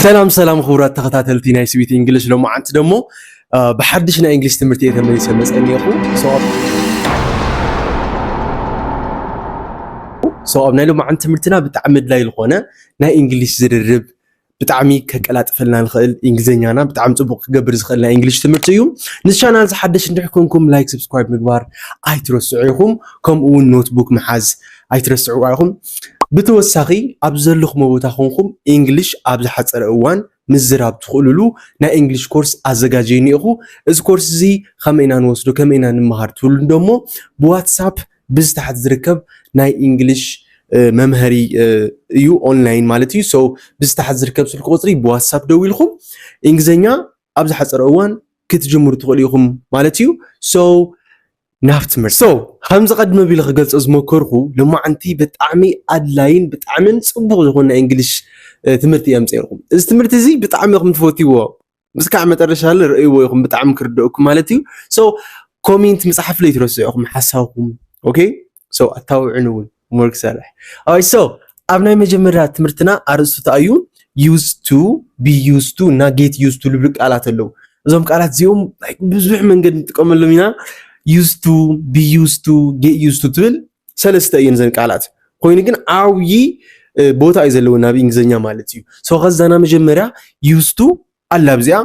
ሰላም ሰላም ክቡራት ተኸታተልቲ ናይ ስዊት እንግሊሽ ሎማዓንቲ ደሞ ብሓድሽ ናይ እንግሊሽ ትምህርቲ እየ ተመሊሰ መፀ እኒኹ ሰው ኣብ ናይ ሎማዓንቲ ትምህርትና ብጣዕሚ ኣድላይ ዝኾነ ናይ እንግሊሽ ዝርርብ ብጣዕሚ ከቀላጥፈልና ንኽእል እንግሊዝኛና ብጣዕሚ ፅቡቅ ክገብር ዝኽእል ናይ እንግሊሽ ትምህርቲ እዩ ንዚ ቻናል ዝሓደሽ እንድሕር ኮንኩም ላይክ ሰብስክራይብ ምግባር ኣይትረስዑ ኢኹም ከምኡ እውን ኖትቡክ ምሓዝ ኣይትረስዕዋ ኢኹም። ብተወሳኺ ኣብ ዘለኹሞ ቦታ ኮንኩም ኢንግሊሽ ኣብ ዝሓጸረ እዋን ምዝራብ ትኽእሉሉ ናይ ኢንግሊሽ ኮርስ ኣዘጋጅየ እኒኤኹ። እዚ ኮርስ እዚ ከመይ ኢና ንወስዶ ከመይ ኢና ንመሃር ትብሉ ደሞ ብዋትሳፕ ብዚ ታሕቲ ዝርከብ ናይ ኢንግሊሽ መምሀሪ እዩ ኦንላይን ማለት እዩ ሰው ብዝተሓት ዝርከብ ስልኪ ቁፅሪ ብዋትሳፕ ደው ኢልኩም እንግሊዝኛ ኣብ ዝሓፀረ እዋን ክትጅምሩ ትኽእሉ ኢኹም ማለት እዩ ሰው ናብ ትምህርቲ so ከምዚ ቀድም ኣቢለ ክገልጾ ዝሞከርኩ ሎማዓንቲ ብጣዕሚ ኣድላይን ብጣዕምን ጽቡቅ ዝኮነ ናይ እንግሊሽ ትምህርቲ እየ ኣምጺኤልኩም እዚ ትምህርቲ እዚ ብጣዕሚ ኢኩም ትፈትይዎ ምስካዕ መጠረሻ ርእይዎ ኢኩም ብጣዕሚ ክርደኣኩም ማለት እዩ so ኮሜንት ምጽሓፍ ለይትረስዑ ኢኩም ሓሳብኩም ኦኬ So ኣታውዕን እውን ሆምወርክ ሰርሕ ኣይ ሶ ኣብ ናይ መጀመርያ ትምህርትና ኣርእስቱ ተኣዩ ዩዝ ቱ ቢ ዩዝ ቱ እና ጌት ዩዝ ቱ ልብሉ ቃላት ኣለዉ እዞም ቃላት እዚኦም ብዙሕ መንገድ ንጥቀመሎም ኢና ዩዝ ቱ ቢ ዩዝ ቱ ጌት ዩዝ ቱ ትብል ሰለስተ እየን ዘን ቃላት ኮይኑ ግን ዓብዪ ቦታ እዩ ዘለወን ኣብ እንግሊዝኛ ማለት እዩ ሶ ከዛና መጀመርያ ዩዝ ቱ ኣላ ኣብዚኣ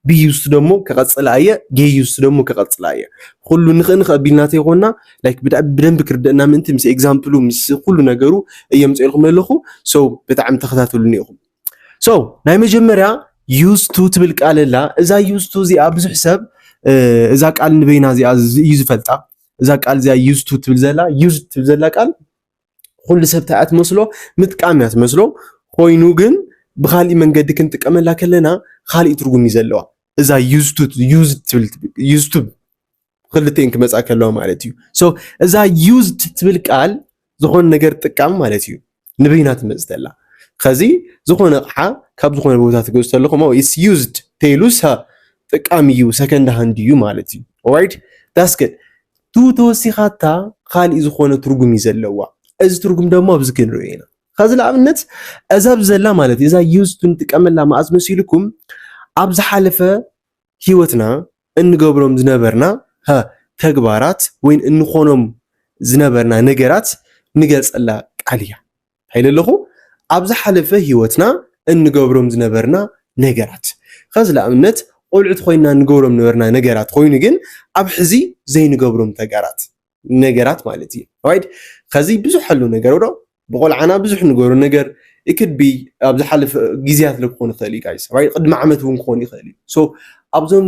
ብዩዝቲ ደሞ ከቐጽላ እየ ጌዩዝቲ ደሞ ከቐጽላ እየ ኩሉ ንኽእ ንኽእ ቢልና ተይኮና ላይክ ብዳዕ ብደንብ ክርደእና ምእንቲ ምስ ኤግዛምፕሉ ምስ ኩሉ ነገሩ እየ ምጽኤልኩም ለለኹ ሰው ብጣዕሚ ተኸታተሉኒ ኢኹም ሰው ናይ መጀመርያ ዩዝቱ ትብል ቃል ኣላ እዛ ዩዝቱ እዚኣ ብዙሕ ሰብ እዛ ቃል ንበይና እዚኣ እዩ ዝፈልጣ እዛ ቃል እዚኣ ዩዝቱ ትብል ዘላ ዩዝ ትብል ዘላ ቃል ኩሉ ሰብ እንታይ እያ ትመስሎ ምጥቃም እያ ትመስሎ ኮይኑ ግን ብካሊእ መንገዲ ክንጥቀመላ ከለና ካሊእ ትርጉም እዩ ዘለዋ እዛ ዩዝቱብ ክልተን ክመፃ ከለዋ ማለት እዩ ሶ እዛ ዩዝድ ትብል ቃል ዝኾነ ነገር ጥቃም ማለት እዩ ንበይና ትመፅ ተላ ከዚ ዝኾነ ኣቕሓ ካብ ዝኾነ ቦታ ትገዝ ተለኹም ኢስ ዩዝድ ተይሉ ጥቃም እዩ ሰከንድ ሃንድ እዩ ማለት እዩ ኦራይት ዳስ ግድ ቱ ተወሲኻታ ኻሊእ ዝኾነ ትርጉም እዩ ዘለዋ። እዚ ትርጉም ደሞ ኣብዚ ክንሪኦ ኢና። ኸዚ ንኣብነት እዛ ኣብዚ ዘላ ማለት እዩ እዛ ዩዝ ቱ ንጥቀመላ መኣዝ መሲልኩም ኣብ ዝሓለፈ ህይወትና እንገብሮም ዝነበርና ተግባራት ወይን እንኾኖም ዝነበርና ነገራት ንገልጸላ ቃል እያ። ኢለ ኣለኹ ኣብ ዝሓለፈ ሂወትና እንገብሮም ዝነበርና ነገራት ኸዚ ልኣብነት ቆልዑት ኾይንና እንገብሮም ዝነበርና ነገራት ኾይኑ ግን ኣብ ሕዚ ዘይንገብሮም ተጋራት ነገራት ማለት እዩ ራይት ኸዚ ብዙሕ ኣሎ ነገር ዶ ብቆልዓና ብዙሕ ንገብሮ ነገር ኢክድ ቢ ኣብ ዝሓለፈ ግዜያት ክኾን ይኽእል እዩ ጋይስ ራይት ቅድሚ ዓመት እውን ክኾን ይኽእል እዩ ሶ ኣብዞም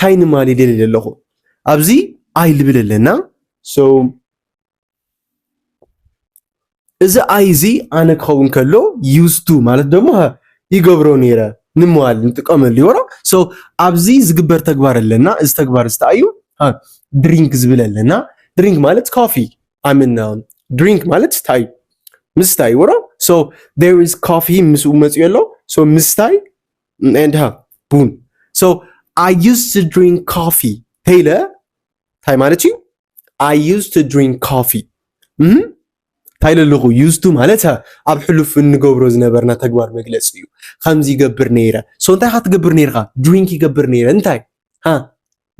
ታይ ንማል ይደሊ ለለኹ ኣብዚ ኣይ ልብል ኣለና so እዚ ኣይ እዚ ኣነ ክኸውን ከሎ used to ማለት ደሞ ይገብሮ ነይረ ንመዋል ንጥቀመሉ ይወራ so ኣብዚ ዝግበር ተግባር ኣለና እዚ ተግባር እዚ እንታይ እዩ ድሪንክ ዝብል ኣለና ድሪንክ ማለት ኮፊ ኣምን ድሪንክ ማለት ስታይ ምስታይ ወሮ ሶ ዴር ኢዝ ኮፊ ምስኡ መፅኡ ኣሎ ሶ ምስታይ and her ቡን so I used to drink coffee ተይለ እንታይ ማለት እዩ I used to drink coffee እንታይ ለለኹ ዩዝቱ ማለት ኣብ ሕሉፍ እንገብሮ ዝነበርና ተግባር መግለፂ እዩ ከምዚ ይገብር ነይረ ሶ እንታይ ካ ትገብር ነይርካ ድሪንክ ይገብር ነይረ እንታይ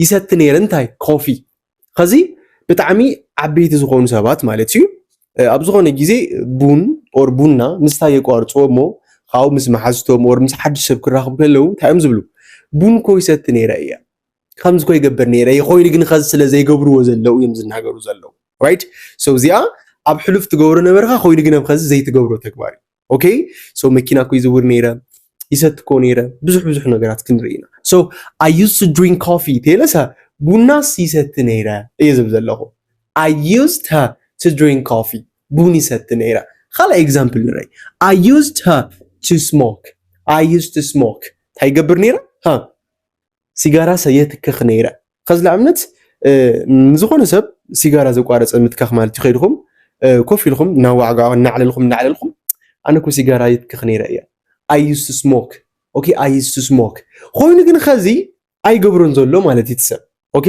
ይሰቲ ነይረ እንታይ ኮፊ ኸዚ ብጣዕሚ ዓበይቲ ዝኾኑ ሰባት ማለት እዩ ኣብ ዝኾነ ግዜ ቡን ኦር ቡና ምስታይ የቋርፅዎ እሞ ካብኡ ምስ መሓዝቶም ኦር ምስ ሓድሽ ሰብ ክራኽቡ ከለዉ እንታይ እዮም ዝብሉ ቡን ኮ ይሰቲ ነይረ እየ ከምዚ ኮ ይገብር ነይረ እየ ኮይኑ ግን ኸዚ ስለ ዘይገብርዎ ዘለዉ እዮም ዝናገሩ ዘለዉ ራይት ሶ እዚኣ ኣብ ሕሉፍ ትገብሮ ነበርካ ኮይኑ ግን ኣብ ኸዚ ዘይትገብሮ ተግባር እዩ ኦኬ ሶ መኪና እኮ ይዝውር ነይረ ይሰት እኮ ነይረ ብዙሕ ብዙሕ ነገራት ክንርኢ ኢና ሶ ኣይ ዩዝ ቱ ድሪንክ ኮፊ ተለሰ ቡናስ ይሰቲ ነይረ እየ ዝብ ዘለኹ ኣይ ዩዝ ቱ ድሪንክ ኮፊ ቡን ይሰቲ ነይረ ካልእ ኤግዛምፕል ንርኢ ኣይ ዩዝ ቱ ስሞክ ኣይ ዩዝ ቱ ስሞክ እንታይ ይገብር ነይረ ሲጋራ ሰየትክኽ ነይረ ኸዚ ንኣብነት ንዝኾነ ሰብ ሲጋራ ዘቋረፀ ምትካኽ ማለት እዩ ከይድኹም ኮፍ ኢልኹም እናዋዕጋ እናዕለልኹም እናዕለልኹም ኣነ እኮ ሲጋራ ይትክኽ ነይረ እያ ኣይ ዩዝ ቱ ስሞክ ኦኬ ኣይ ዩዝ ቱ ስሞክ ኮይኑ ግን ኸዚ ኣይገብሮን ዘሎ ማለት እዩ ትሰብ ኦኬ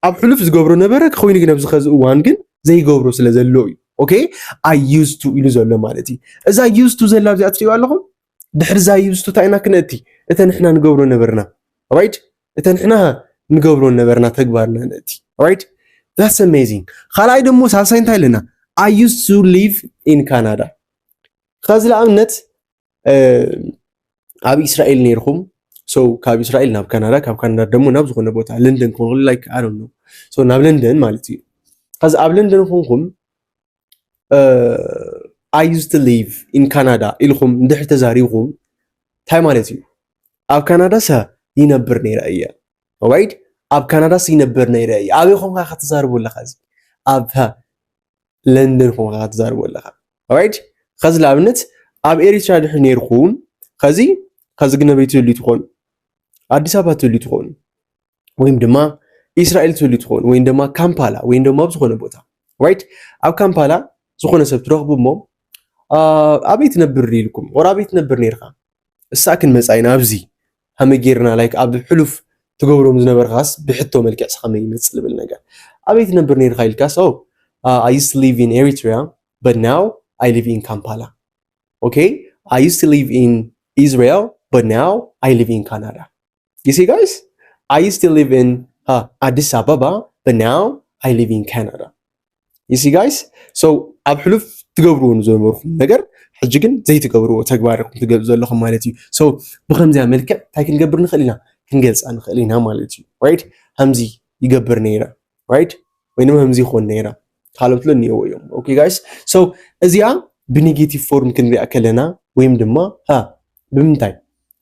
ኣብ ሕሉፍ ዝገብሮ ነበረ ኮይኑ ግን ኣብዚ ኸዚ እዋን ግን ዘይገብሮ ስለ ዘሎ እዩ ኦኬ ኣይ ዩዝ ቱ ኢሉ ዘሎ ማለት እዩ እዛ ዩዝ ቱ ዘላ ኣብዚኣ ትሪእዋ ኣለኹም ድሕሪ ዛይ ይብስቱ እንታይ ኢና ክነእቲ እተ ንሕና ንገብሮ ነበርና ራይት እተ ንሕና ንገብሮ ነበርና ተግባርና ነእቲ ራይት ዛትስ ኣሜዚንግ ካልኣይ ደሞ ሳልሳይ እንታይ ኣለና ኣይ ዩዝ ቱ ሊቭ ኢን ካናዳ ከዚ ንኣብነት ኣብ እስራኤል ነይርኩም ሰው ካብ እስራኤል ናብ ካናዳ ካብ ካናዳ ደሞ ናብ ዝኾነ ቦታ ለንደን ክኾን ላይክ ኣይ ዶንት ኖ ሰው ናብ ለንደን ማለት እዩ ከዚ ኣብ ለንደን ኮንኩም ኣይ ዩዝ ቱ ሊቭ ኢን ካናዳ ኢልኩም እንድሕር ተዛሪብኩም እንታይ ማለት እዩ? ኣብ ካናዳሰ ይነብር ነይረ እየ ራይት ኣብ ካናዳስ ይነብር ነይረ እየ ኣበይ ኮንካ ከተዛርቦ ኣለካ እዚ ኣብ ለንደን ኮንካ ከተዛርቦ ኣለካ ራይት ከዚ ንኣብነት ኣብ ኤሪትራ ድሕሪ ነይርኩም ከዚ ከዚ ግነበይ ትህልዩ ትኾኑ ኣዲስ ኣበባ ትህልዩ ትኾኑ ወይም ድማ ኢስራኤል ትህሉ ትኸውን ወይም ድማ ካምፓላ ወይም ድማ ኣብ ዝኾነ ቦታ ራይት ኣብ ካምፓላ ዝኾነ ሰብ ትረኽቡ እሞ ኣበይ ትነብር ኢልኩም ወር ኣበይ ትነብር ነርካ እሳ ክንመፃ ኢና ኣብዚ ከመይ ጌርና ላይክ ኣብ ሕሉፍ ትገብሮም ዝነበርካስ ብሕቶ መልክዕ ከመይ ይመፅእ ዝብል ነገር ኣበይ ትነብር ነርካ ኢልካስ ኦ ኣይ ዩስ ሊቭ ኢን ኤሪትሪያ በት ናው ኣይ ሊቭ ኢን ካምፓላ ኦኬ ኣይ ዩስ ሊቭ ኢን ኢስራኤል በት ናው ኣይ ሊቭ ኢን ካናዳ you see guys I used to live in uh, Addis Ababa but now I live in Canada you see guys so ኣብ ሕሉፍ ትገብርዎ ንዘነበርኩም ነገር ሕጂ ግን ዘይትገብርዎ ተግባር ኢኹም ትገብሩ ዘለኹም ማለት እዩ ሶ ብከምዚያ መልክዕ እንታይ ክንገብር ንኽእል ኢና ክንገልፃ ንኽእል ኢና ማለት እዩ ራይት ከምዚ ይገብር ነይረ ራይት ወይ ድማ ከምዚ ይኾን ነይረ ካልኦት ሎ እኒኦዎ እዮም ኦኬ ጋይስ ሶ እዚኣ ብኔጌቲቭ ፎርም ክንሪኣ ከለና ወይም ድማ ሃ ብምንታይ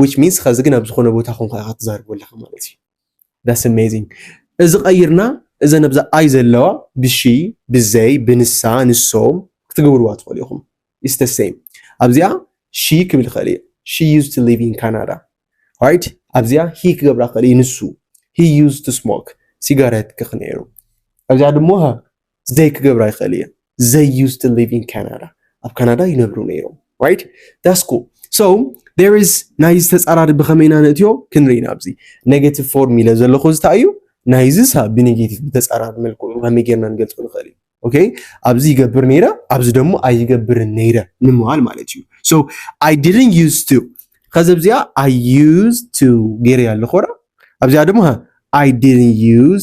which means ኸዚ ግን ኣብ ዝኾነ ቦታ ኮንካ ኢኻ ትዛርብ ዘለኻ ማለት እዩ that's amazing እዚ ቀይርና እዘ ነብዛ ኣይ ዘለዋ ብሺ ብዘይ ብንሳ ንሶም ክትገብርዋ ትኽእሉ ኢኹም is the same ኣብዚኣ ሺ ክብል ይኽእል እዩ she used to live in Canada right ኣብዚኣ ሂ ክገብራ ክኽእል እዩ ንሱ he used to smoke ሲጋሬት ክኽ ነይሩ ኣብዚኣ ድሞ ዘይ ክገብራ ይክእል እየን ዘይ ዩ ስትል ሊቭ ኢን ካናዳ ኣብ ካናዳ ይነብሩ ነይሮም ራይት ዳስ ኩል ሶ ዴር ኢዝ ናይዚ ተፃራሪ ብከመይ ኢና ንእትዮ ክንርኢ ኢና ኣብዚ ኔጌቲቭ ፎርም ኢለ ዘለኹ እዚ እንታይ እዩ ናይዚ ሳብ ብኔጌቲቭ ብተፃራሪ መልክዑ ከመይ ጌርና ንገልፆ ንኽእል እዩ ኦኬ ኣብዚ ይገብር ነይረ ኣብዚ ደሞ ኣይገብርን ነይረ ንምባል ማለት እዩ ሶ ኣይ ዲድን ዩዝ ቱ ከዚ ኣብዚኣ ኣይ ዩዝ ቱ ገይረያ ኣለኹ ራ ኣብዚኣ ድማ ኣይ ዲድን ዩዝ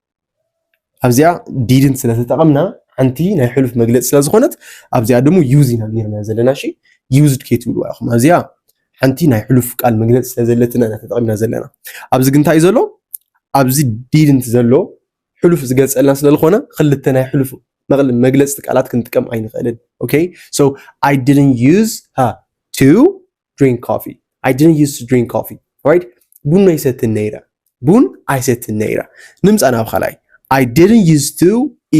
ኣብዚኣ ዲድንት ስለ ተጠቐምና ሓንቲ ናይ ሕሉፍ መግለፂ ስለ ዝኾነት ኣብዚኣ ድሞ ዩዝ ኢና ጌርና ዘለና እሺ ዩዝድ ከይትብልዋ ኢኹም ኣብዚኣ ሓንቲ ናይ ሕሉፍ ቃል መግለፂ ስለ ዘለትና ኢና ተጠቒምና ዘለና ኣብዚ ግን እንታይ እዩ ዘሎ ኣብዚ ዲድንት ዘሎ ሕሉፍ ዝገልፀልና ስለ ዝኾነ ክልተ ናይ ሕሉፍ መቕል- መግለፅቲ ቃላት ክንጥቀም ኣይንኽእልን ኦኬ ሶ ኣይ ዲድንት ዩዝ ቱ ድሪንክ ኮፊ ኣይ ዲድንት ዩዝ ቱ ድሪንክ ኮፊ ራይት ቡን ኣይሰትን ነይረ ቡን ኣይሰትን ነይረ ንምፃእ ናብ ካልኣይ ኣይ ዲድንት ዩዝ ቱ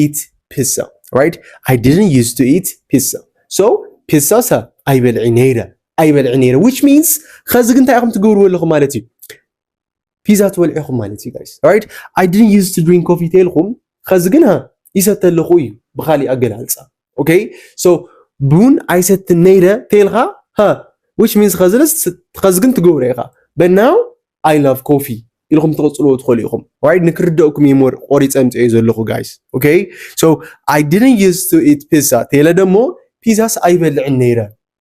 ኢት ፒሳ ራይት ኣይ ዲድንት ዩዝ ቱ ኢት ፒሳ ሶ ፒሳ ሰ ኣይበልዒ ነይረ ኣይበልዒ ነይረ ዊች ሚንስ ኸዚ ግን እንታይ ኢኹም ትገብርዎ ኣለኹም ማለት እዩ ፒዛ ትበልዑ ኢኹም ማለት እዩ ጋይስ ራይት ኣይ ዲድንት ዩዝ ቱ ድሪንክ ኮፊ ተልኩም ኸዚ ግን ሃ ይሰተ ኣለኹ እዩ ብኻሊእ ኣገላልፃ ኦኬ ሶ ቡን ኣይሰትን ነይረ ተልካ ሃ ዊች ሚንስ ኸዚ ግን ትገብሮ ኢኻ በናው ኣይ ላቭ ኮፊ ኢልኩም ትቕፅልዎ ትኽእሉ ኢኹም ራይት ንክርደእኩም እየ ሞር ቆሪፀ ምፅኦ ዘለኹ ጋይስ ኦኬ ሶ ኣይ ዲድንት ዩዝ ቱ ኢት ፒዛ ተለ ደሞ ፒዛስ ኣይበልዕን ነይረ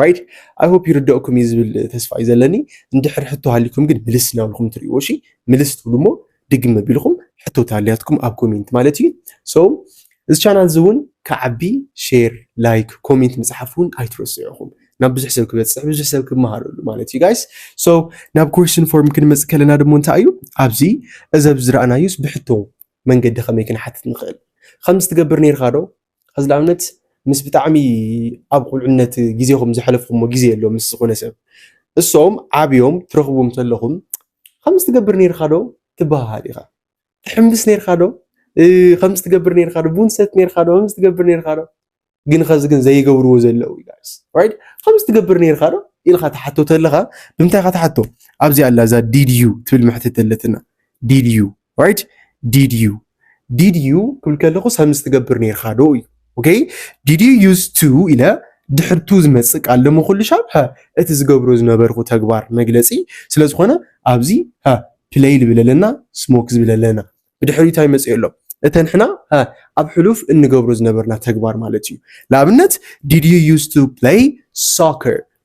ራይት ኣይ ሆፕ ይርደእኩም እዩ ዝብል ተስፋ እዩ ዘለኒ እንድሕር ሕቶ ሃሊኩም ግን ምልስ እናብልኩም ትርእይዎ እሺ ምልስ ትብሉ እሞ ድግም መቢልኩም ሕቶ ተሃልያትኩም ኣብ ኮሜንት ማለት እዩ ሶ እዚ ቻናል እዚ እውን ክዓቢ ሼር ላይክ ኮሜንት ምፅሓፍ እውን ኣይትረስዑ ኢኹም ናብ ብዙሕ ሰብ ክበፅሕ ብዙሕ ሰብ ክመሃረሉ ማለት እዩ ጋይስ ሶ ናብ ኮሽን ፎርም ክንመፅእ ከለና ድሞ እንታይ እዩ ኣብዚ እዚ ኣብዚ ዝረኣናዩስ ብሕቶ መንገዲ ከመይ ክንሓትት ንኽእል ከምዚ ትገብር ነይርካ ዶ ኸዚ ንኣብነት ምስ ብጣዕሚ ኣብ ቁልዕነት ግዜኹም ዘሕለፍኹሞ ግዜ ኣሎ ምስ ዝኾነ ሰብ እሶም ዓብዮም ትረኽቡም ተለኹም ከምዚ ትገብር ነይርካ ዶ ትበሃሃል ኢኻ ትሕምብስ ነይርካ ዶ ከምዚ ትገብር ነይርካ ዶ ቡን ትሰቲ ነይርካ ዶ ከምዚ ትገብር ነይርካ ዶ ግን ኸዚ ግን ዘይገብርዎ ዘለዉ ጋይስ ራይት ከምዚ ትገብር ነይርካ ዶ ኢልካ ትሓቶ ተለኻ ብምንታይ ኢኻ ትሓቶ ኣብዚኣ ኣላ እዛ ዲድዩ ትብል መሕትት ኣለትና ዲድዩ right did you did you ክብል ከለኹ ሰምስ ትገብር ነርካ ዶ እዩ ኦኬ did you use to ኢለ ድሕር ቱ ዝመጽእ ቃል ደሞ ኩሉ ሻብ ሀ እቲ ዝገብሮ ዝነበርኩ ተግባር መግለጺ ስለ ዝኾነ ኣብዚ ሀ ፕለይ ዝብል ኣለና ስሞክ ዝብል ኣለና ብድሕሪ እንታይ መጽእ ኣሎ እተን ሕና ሀ ኣብ ሕሉፍ እንገብሮ ዝነበርና ተግባር ማለት እዩ ንኣብነት did you use to play soccer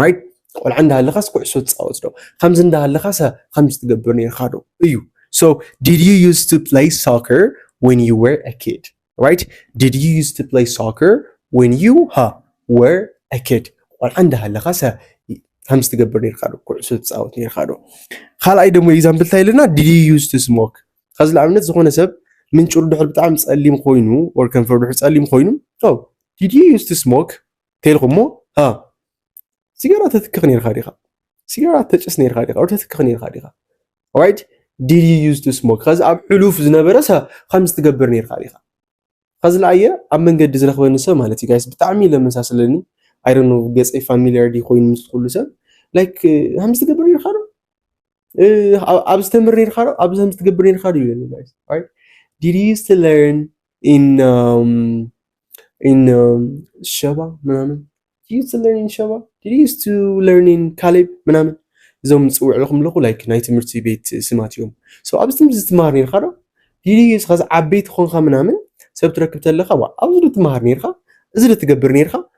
ራይት ቆልዓ እንዳሃለኻስ ኩዕሶ ትፃወት ዶ ከምዚ እንዳሃለኻስ ከምዚ ትገብር ነርካ ዶ እዩ ሶ ዲድ ዩ ዩዝ ቱ ፕለይ ሶከር ወን ዩ ወር አ ኪድ ራይት ዲድ ዩ ዩዝ ቱ ፕለይ ሶከር ወን ዩ ሃ ወር አ ኪድ ቆልዓ እንዳሃለኻስ ከምዚ ትገብር ነርካ ዶ ኩዕሶ ትፃወት ነርካ ዶ ካልኣይ ደሞ ኤግዛምፕል እንታይ ኣለና ዲድ ዩ ዩዝ ቱ ስሞክ ከዚ ንኣብነት ዝኾነ ሰብ ምንጭሩ ድሕር ብጣዕሚ ፀሊም ኮይኑ ወር ከንፈሩ ድሕር ፀሊም ኮይኑ ዲድ ዩ ዩዝ ቱ ስሞክ ተልኩሞ ሃ ሲጋራ ተትክኽ ነርካ ዲኻ ሲጋራ ተጭስ ነርካ ዲኻ ወይ ተትክኽ ነርካ ዲኻ ራይት ዲድ ዩ ዩዝ ቱ ስሞክ ከዚ ኣብ ሕሉፍ ዝነበረ ከምዚ ትገብር ነርካ ዲኻ ከዚ ለኣየ ኣብ መንገዲ ዝረኽበኒ ሰብ ማለት እዩ ጋይስ ብጣዕሚ ለመሳስለኒ ኣይዶኖ ገፀይ ፋሚሊያር ዲ ኮይኑ ምስ ኩሉ ሰብ ላይክ ከምዚ ትገብር ነርካ ዶ ኣብዚ ተምህር ነርካ ዶ ኣብዚ ከምዚ ትገብር ነርካ ዶ ይብለኒ ጋይስ right did you used to learn in um, in um, ሸባ ምናምን did you used to learn in ሸባ did you used to learn in ካሌብ ምናምን እዞም ዝፅውዕ ኣለኹም ኣለኹ ላይክ ናይ ትምህርቲ ቤት ስማት እዮም ሶ ኣብዚ ትምህርቲ ዝትምሃር ነርካ ዶ did you used ከዚ ዓበይቲ ኮንካ ምናምን ሰብ ትረክብ ተለካ ዋ ኣብዚ ዶ ትምሃር ነርካ እዚ ዶ ትገብር ነርካ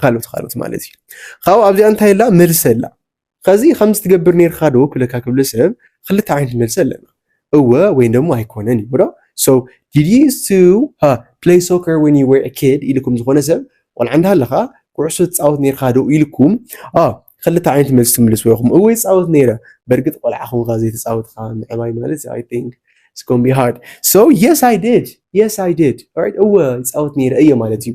ካልኦት ካልኦት ማለት እዩ ካብኡ ኣብዚኣ እንታይ ኣላ መልሲ ኣላ ከዚ ከምዚ ትገብር ነርካ ዶ ክብለካ ክብለ ሰብ ክልተ ዓይነት መልሲ ኣለና እወ ወይ ደሞ ኣይኮነን እዩ ዶ so did you used to uh, play soccer when you were a kid ኢልኩም ዝኾነ ሰብ ቆልዓ እንዳሃለኻ ኩዕሶ ትፃወት ነርካ ዶ ኢልኩም አ ክልተ ዓይነት መልሲ ትምልስዎ ኢኹም እወ ይፃወት ነይረ በእርግጥ ቆልዓ ኹንካ ዘይተፃወትካ ምዕባይ ማለት እዩ i think it's gonna be hard so yes i did yes i did alright እወ ይፃወት ነይረ እየ ማለት እዩ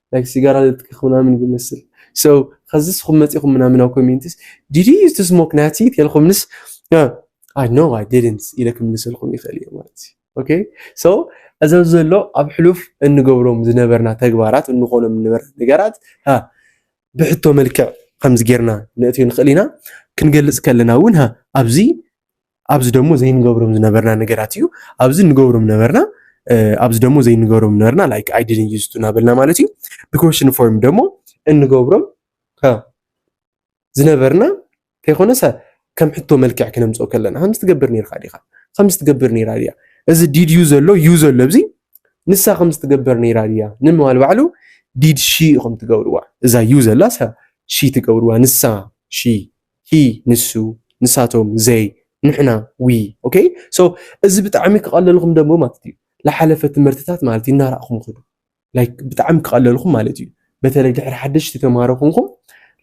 ላይክ ሲጋራ ዘትክኽ ምናምን ዝመስል ሶ ከዚ ስኹም መጺኹም ምናምን ኣብ ኮሜንትስ ዲድ ዩ ዩዝ ቱ ስሞክ ናቲ ተልኩምንስ ኣይ ኖ ኣይ ዲድንት ኢለ ክምልሰልኩም ይኽእል እየ ማለት እዩ ኦኬ ሶ እዚ ዘሎ ኣብ ሕሉፍ እንገብሮም ዝነበርና ተግባራት እንኾኖም ንበር ነገራት ብሕቶ መልክዕ ከምዚ ጌርና ነእትዮ ንኽእል ኢና ክንገልጽ ከለና እውን ኣብዚ ኣብዚ ደሞ ዘይንገብሮም ዝነበርና ነገራት እዩ ኣብዚ ንገብሮም ነበርና ኣብዚ ደሞ ዘይንገብሮም ነበርና ላይክ ኣይ ዲድን ዩዝ ቱ ናበልና ማለት እዩ ብኮሽን ፎርም ደሞ እንገብሮም ዝነበርና ከይኮነሰ ከም ሕቶ መልክዕ ክነምፅኦ ከለና ከምዚ ትገብር ነርካ ዲኻ ከምዚ ትገብር ነራ ድያ እዚ ዲድ ዩ ዘሎ ዩ ዘሎ ኣብዚ ንሳ ከምዚ ትገብር ነራ ድያ ንምባል ባዕሉ ዲድ ሺ ኢኹም ትገብርዋ እዛ ዩ ዘላ ሺ ትገብርዋ ንሳ ሺ ሂ ንሱ ንሳቶም ዘይ ንሕና ዊ ኦከይ ሶ እዚ ብጣዕሚ ክቀለልኹም ደሞ ማለት እዩ ልሓለፈ ትምህርትታት ማለት እዩ እናራእኹም ኹዱ ላይክ ብጣዕሚ ክቀለልኹም ማለት እዩ በተለይ ድሕሪ ሓደሽቲ ተማሃሮ ኹንኩም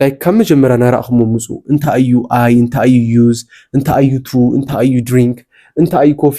ላይክ ካብ መጀመርያ ናራእኹሞ ምፁ እንታይ እዩ ኣይ እንታይ እዩ ዩዝ እንታይ እዩ ቱ እንታይ እዩ ድሪንክ እንታይ እዩ ኮፊ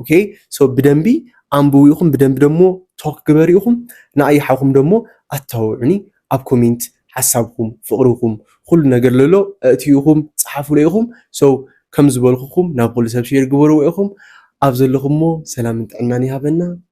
ኦኬ ሶ ብደንቢ ኣንብቡ ኢኹም ብደንቢ ደሞ ቶክ ግበሩ ኢኹም ንኣይሓኹም ደሞ ኣተባብዑኒ ኣብ ኮሜንት ሓሳብኩም ፍቕርኹም ኩሉ ነገር ለሎ ኣእትዩ ኢኹም ፀሓፉለ ኢኹም ሶ ከም ዝበልኩኹም ናብ ኩሉ ሰብ ሼር ግበርዎ ኢኹም ኣብ ዘለኹሞ ሰላምን ጥዕናን ይሃበና